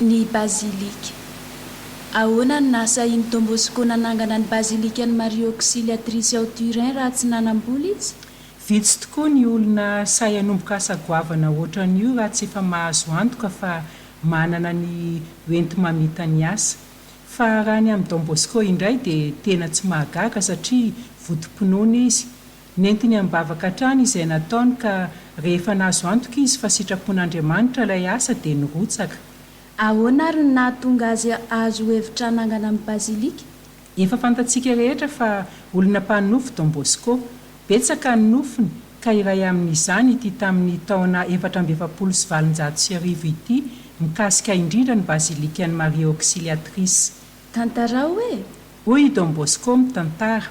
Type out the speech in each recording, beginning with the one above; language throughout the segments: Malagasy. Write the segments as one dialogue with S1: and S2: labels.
S1: ny bazilika. Ahoana no nahasahian'i Don Bosco nanangana ny bazilikan'i Maria Auxiliatrice ao Turin raha tsy nanam-bola izy? Vitsy tokoa
S2: ny olona sahy hanomboka asa goavana hoatran'io raha tsy efa mahazo antoka fa manana ny ho enti-mamita ny asa. Fa raha ny amin'i Don Bosco indray dia tena tsy mahagaga satria votom-pinoana izy Nentiny am-bavaka hatrany izay nataony ka rehefa nahazo antoka izy fa sitrapon'Andriamanitra ilay asa dia nirotsaka. Ahoana ary
S1: no nahatonga azy hahazo hevitra hanangana ny bazilika? Efa fantatsika
S2: rehetra fa olona mpanonofy Don Bosco. Betsaka ny nofiny ka iray amin'izany ity tamin'ny taona efatra amby efapolo sy valonjato sy arivo ity mikasika indrindra ny bazilikan'i Maria Auxiliatrice. Tantarao
S1: e! Hoy i Don Bosco
S2: mitantara,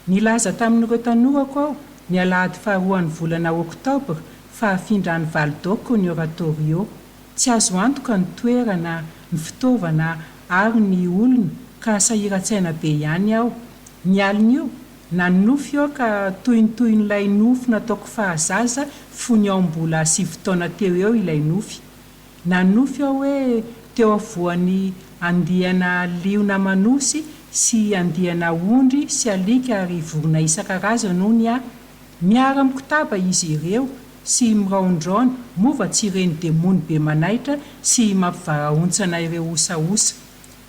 S2: Nilaza tamin'ireo tanorako aho, ny alahady faharoan'ny volana Oktobra, fa hafindra any Val d'Occo ny Oratorio. Tsy azo antoka ny toerana, ny fitaovana ary ny olona, ka sahiran-tsaina be ihany aho. Ny alin'io, nanonofy aho ka toy ny tohin'ilay nofy nataoko fahazaza fony aho mbola sivy taona teo eo ilay nofy. Nanofy aho hoe teo afovoan'ny andiana liona manosy sy andiana ondry sy alika ary vorona isan-karazany hono aho. Miara-mikotaba izy ireo sy miraondraona, moa va tsy ireny demony be manaitra sy mampivarahontsana ireo osaosa.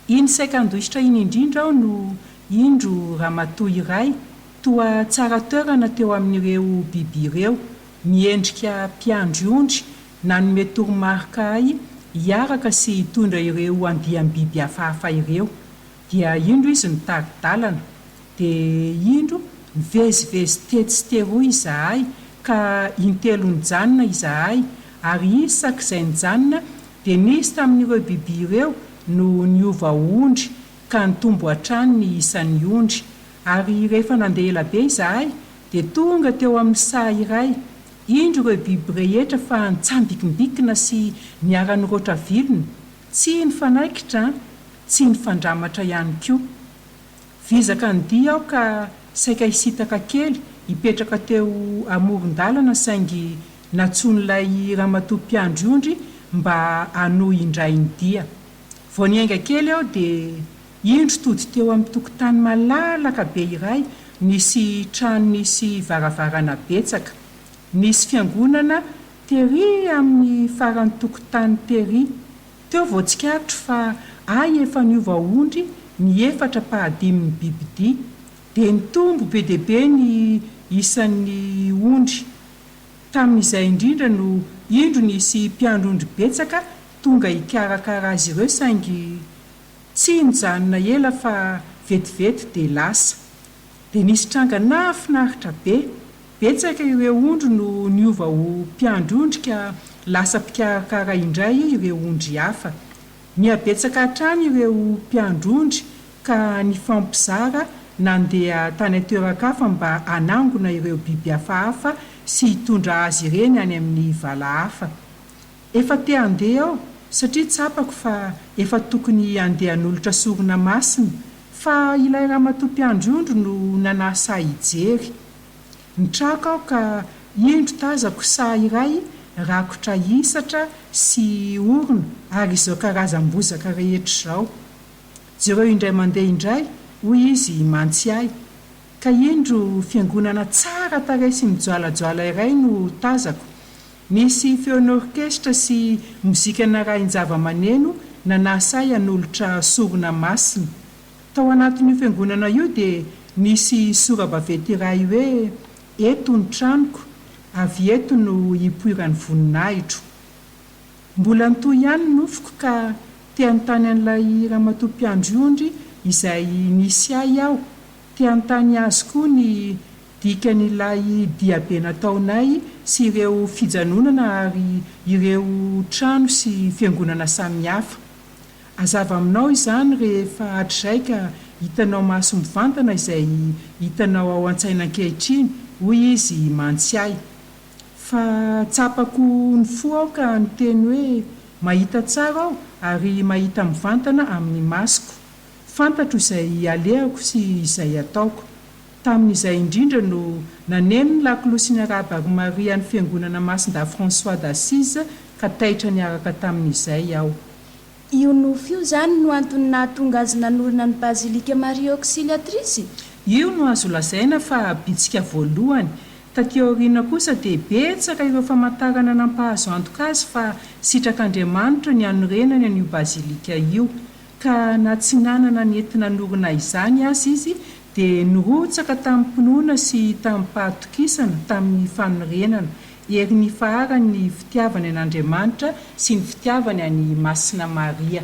S2: Iny saika handositra iny indrindra aho no indro ramatoa iray toa tsara toerana teo amin'ireo biby ireo, miendrika mpiandry ondry Nanome toromarika ahy hiaraka sy hitondra ireo andiam-biby hafahafa ireo. Dia indro izy nitari-dalana. Dia indro nivezivezy tetsy sy teroa izahay, ka intelo nijanona izahay, ary isaky izay nijanona, dia nisy tamin'ireo biby ireo no niova ho ondry, ka nitombo hatrany ny isan'ny ondry. Ary rehefa nandeha ela be izahay, dia tonga teo amin'ny saha iray, Indro ireo biby rehetra fa nitsambikimbikina sy niara-niroatra vilona, tsy nifanaikitra, tsy nifandramatra ihany koa. Vizaka ny dia aho ka saika hisitaka kely hipetraka teo amoron-dalana saingy nantsoin'ilay ramatoa mpiandry ondry mba hanohy indray ny dia. Vao niainga kely aho dia. Indro tody teo amin'ny tokotany malalaka be iray nisy trano nisy varavarana betsaka. Nisy fiangonana tery amin'ny faran'ny tokotany tery. Teo vao tsikaritro fa hay efa niova ondry ny efatra pahadimin'ny bibidia. Dia nitombo be dia be ny isan'ny ondry. Tamin'izay indrindra no indro nisy mpiandry ondry betsaka tonga hikarakara azy ireo saingy. Tsy nijanona ela fa vetivety dia lasa. Dia nisy tranga nahafinaritra be. Betsaka ireo ondry no niova ho mpiandry ondry ka lasa mpikarakara indray ireo ondry hafa. Nihabetsaka hatrany ireo mpiandry ondry ka nifampizara nandeha tany an-toeran-kafa mba hanangona ireo biby hafahafa sy hitondra azy ireny any amin'ny vala hafa. Efa te handeha aho satria tsapako fa efa tokony handeha hanolotra sorona masina fa ilay ramatoa mpiandry ondry no nanasa ahy hijery. Nitraka aho ka indro tazako saha iray rakotra hisatra sy orona ary izao karazam-bozaka rehetra izao. Jereo indray mandeha indray, hoy izy mantsy ahy. Ka indro fiangonana tsara tarehy sy mijoalajoala iray no tazako. Nisy feon'orkestra sy mozika narahin-javamaneno na nasahy hanolotra sorona masina. Tao anatin'io fiangonana io dia nisy sora-baventy iray hoe, Eto ny tranoko, avy eto no hipoiran'ny voninahitro. Mbola nitohy ihany ny nofiko ka te hanontany an'ilay ramatoa mpiandry ondry izay nisy ahy aho, te hanontany azy koa ny Dikan'ilay diabe nataonay sy ireo fijanonana ary ireo trano sy fiangonana samihafa. Hazava aminao izany rehefa hatrizay ka hitanao maso mivantana izay hitanao ao an-tsaina ankehitriny, hoy izy mantsy ahy. Fa tsapako ny fo aho ka niteny hoe, Mahita tsara aho ary mahita mivantana amin'ny masoko. Fantatro izay alehako sy izay ataoko. Tamin'izay indrindra no naneno ny lakolosy ny Araba Ave Maria an'ny Fiangonana Masindahy François d'Assise ka taitra niaraka tamin'izay aho. Io
S1: nofy io izany no antony nahatonga azy nanorina ny Bazilika Maria Auxiliatrice? Io no azo
S2: lazaina fa bitsika voalohany. Taty aoriana kosa dia betsaka ireo famantarana nampahazo antoka azy fa sitrak'Andriamanitra ny hanorenany an'io Bazilika io. ka na tsy nanana ny enti-nanorina izany aza izy dia nirotsaka tamim-pinoana sy tamim-pahatokisana tamin'ny fanorenana ery nifaharan'ny fitiavany an'Andriamanitra sy ny fitiavany an'i Masina Maria.